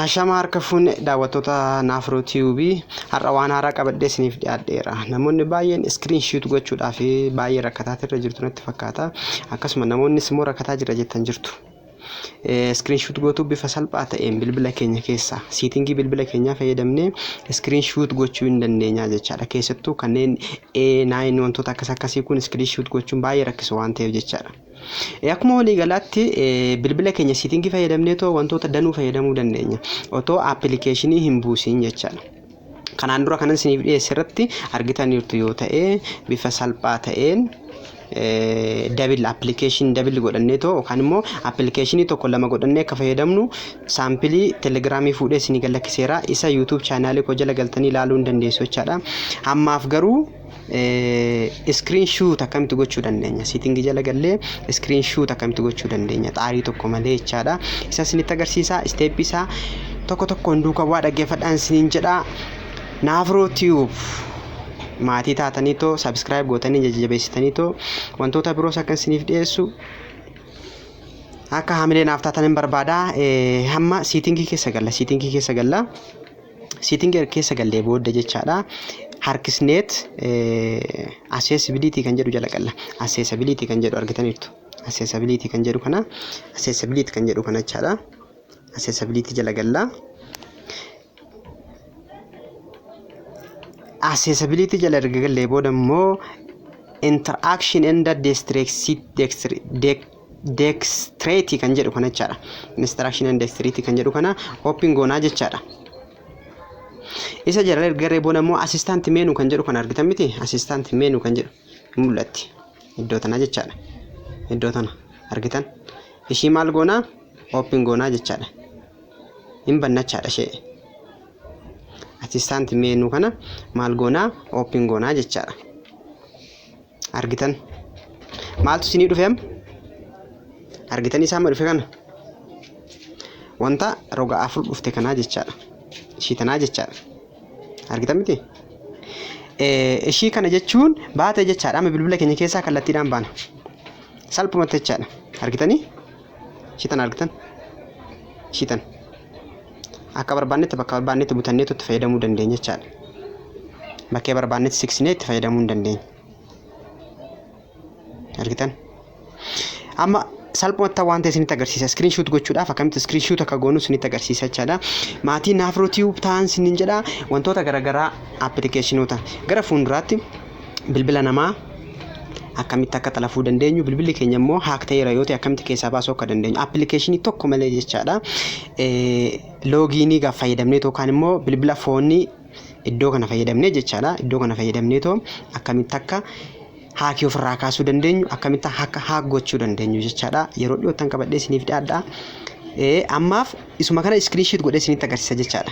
Hashama harka fuunne daawwattoota Naafroo TV har'a waan haaraa qabadhee isiniif dhiyaadheera. Namoonni baay'een iskiriin shiitu gochuudhaaf baay'ee rakkataa irra jirtu natti fakkaata. Akkasuma namoonnis immoo rakkataa jira jettan jirtu. Screenshot gootuu bifa salphaa ta'een bilbila keenya keessaa siitingii bilbila keenyaa fayyadamnee screenshot gochuu hin dandeenyaa jechaadha. Keessattuu kanneen A9 wantoota akkas akkasii kun screenshot gochuun baay'ee rakkisu waan ta'eef jechaadha. Akkuma waliigalaatti bilbila keenya siitingii fayyadamnee too wantoota danuu fayyadamuu dandeenya. Otoo appilikeeshinii hin buusiin jechaadha. kanaan dura kanan isiniif dhiyeesse irratti argitaniirtu yoo ta'e bifa salphaa ta'een dabil appilikeeshinii dabil godhannee too yookaan immoo appilikeeshinii tokko lama godhannee akka fayyadamnu saampilii telegiraamii fuudhee isinii gad lakkiseera isa yuutuub chaanaalii koo jala galtanii ilaaluu hin dandeessu jechaadha. Ammaaf garuu Iskiriin shuut akkamitti gochuu dandeenya? Siitingii jala gallee iskiriin shuut akkamitti gochuu dandeenya? Xaarii tokko malee jechaadha. Isa isinitti agarsiisa. Isteeppii isaa tokko tokkoon duuka bu'aa dhaggeeffadhaan isiniin jedha. Naafroo Tiyuub maatii taatanii too sabiskiraayib gootanii jajjabeessitanii too wantoota biroos akka isiniif dhiyeessu akka hamilee naaf taatan hin barbaada. Hamma siitingii keessa galla. Siitingii keessa galla. Sitting erga keessa gallee booda jechaadha. Harkisneet accessibility kan jedhu jala galla. Accessibility kan jedhu argitaniirtu. Accessibility kan jedhu kana accessibility kan jedhu kana jechaadha. Accessibility jala galla. Accessibility jala erga gallee booda immoo interaction and dexterity dextrate kan jedhu kana jechaadha. Instruction and dextrate kan jedhu kana open goonaa jechaadha. Isa jala erga garee booda immoo assistant menu kan jedhu kana argitan miti assistant menu kan jedhu hin mul'atti. Iddoo tana jechaadha. Iddoo tana argitan. Ishii maal goonaa open goonaa jechaadha. Hin bannachaadha ishee. Assistant menu kana maal goonaa open goonaa jechaadha. argitan maaltu isinii dhufe amma argitanii isaa amma dhufe kana wanta roga afur dhufte kanaa jechaadha ishii tanaa jechaadha argitan miti Eh, ishii kana jechuun baate jechaadha amma bilbila keenya keessaa kallattiidhaan baana salphumatti jechaadha argitanii ishii tan argitan ishii tan akka barbaannetti bakka barbaannetti butanneetu itti fayyadamuu dandeenya jechaadha. Bakkee barbaannetti siksinee itti fayyadamuu hin dandeenya. Argitan? Amma salphumatti waan ta'e isinitti agarsiisa. Iskiriin shuut gochuudhaaf akkamitti iskiriin shuut akka goonu isinitti agarsiisa jechaadha. Maatii naafroo tiyuub ta'an isiniin jedha wantoota garaagaraa appilikeeshinoota gara fuulduraatti bilbila namaa akkamitti akka xalafuu dandeenyu bilbilli keenya immoo haak ta'eera yoo ta'e akkamitti keessaa baasuu akka dandeenyu appilikeeshinii tokko malee jechaadha loogiinii gaaf fayyadamnee yookaan immoo bilbila foonii iddoo kana fayyadamnee jechaadha iddoo kana fayyadamnee too akkamitti akka haakii ofirraa kaasuu dandeenyu akkamitti akka haak gochuu dandeenyu jechaadha yeroo dhiyoottan qabadhee isiniif dhiyaadha ammaaf isuma kana iskiriinshiit godhee isinitti agarsiisa jechaadha.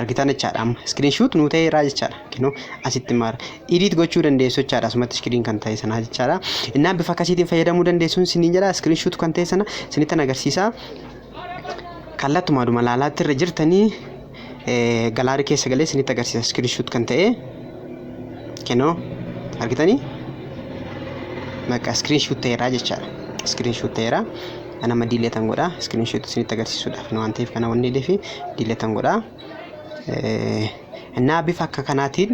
argitan jechaadha amma iskiriin shuut nuu ta'eeraa jechaadha kinoo asitti maara idiit gochuu dandeessu jechaadha asumatti iskiriin kan ta'e sanaa jechaadha innaan bifa akkasiitiin fayyadamuu dandeessuun siniin jedha iskiriin shuut kan ta'e sana sinittan agarsiisa kallattumaadhuma laalaatti irra jirtanii galaarii keessa galee sinitti agarsiisa iskiriin shuut kan ta'e kinoo argitanii bakka iskiriin shuut ta'eeraa jechaadha iskiriin shuut ta'eeraa ana ma diileetan godha iskiriinshoot isinitti agarsiisuudhaaf waan ta'eef kana wanni deefi diileetan godha እና bifa akka kanaatiin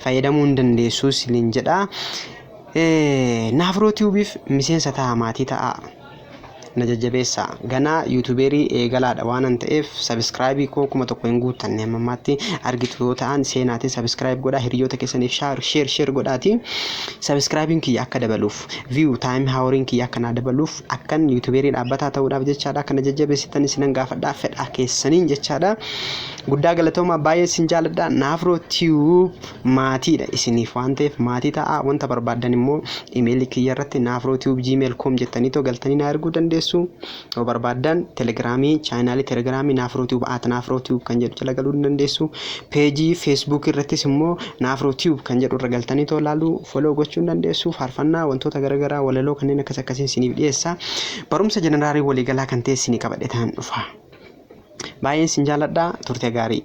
fayyadamuu hin dandeessu isiniin jedha naafroo tiubiif miseensa ta'a maatii ta'a na jajjabeessa ganaa yuutubeerii eegalaadha waanan ta'eef sabiskiraayibii koo kuma tokko hin guuttanne amma ammaatti argitu yoo ta'an seenaatiin sabiskiraayib godha hiriyoota keessaniif shaar sheer sheer godhaati sabiskiraayibiin kiyya akka dabaluuf viyuu taayim haaworiin kiyya akka naa dabaluuf Akkan yuutubeerii dhaabbataa ta'uudhaaf jechaadha akka na jajjabeessitan isinan gaafadha fedhaa keessaniin jechaadha. Guddaa galatoomaa baay'ee isin jaaladha. Naafroo Tube maatiidha isiniif waan ta'eef maatii ta'a. Wanta barbaaddan immoo imeelii kiyya irratti naafroo tube gmail com jettanii too galtanii naa erguu dandeessu. Yoo barbaaddan telegiraamii chaayinaalii telegiraamii naafroo tube at naafroo tube kan jedhu jala galuu ni dandeessu. Page Facebook irrattis immoo Naafroo Tube kan jedhu irra galtanii too laaluu, follow gochuu ni dandeessu. Faarfannaa, wantoota garagaraa, walaloo kanneen akkas akkasiin isiniif dhiyeessa. Barumsa jeneraalii waliigalaa kan ta'e isinii qabadheetan dhufa. Baay'een isin jaaladha. Turte gaarii.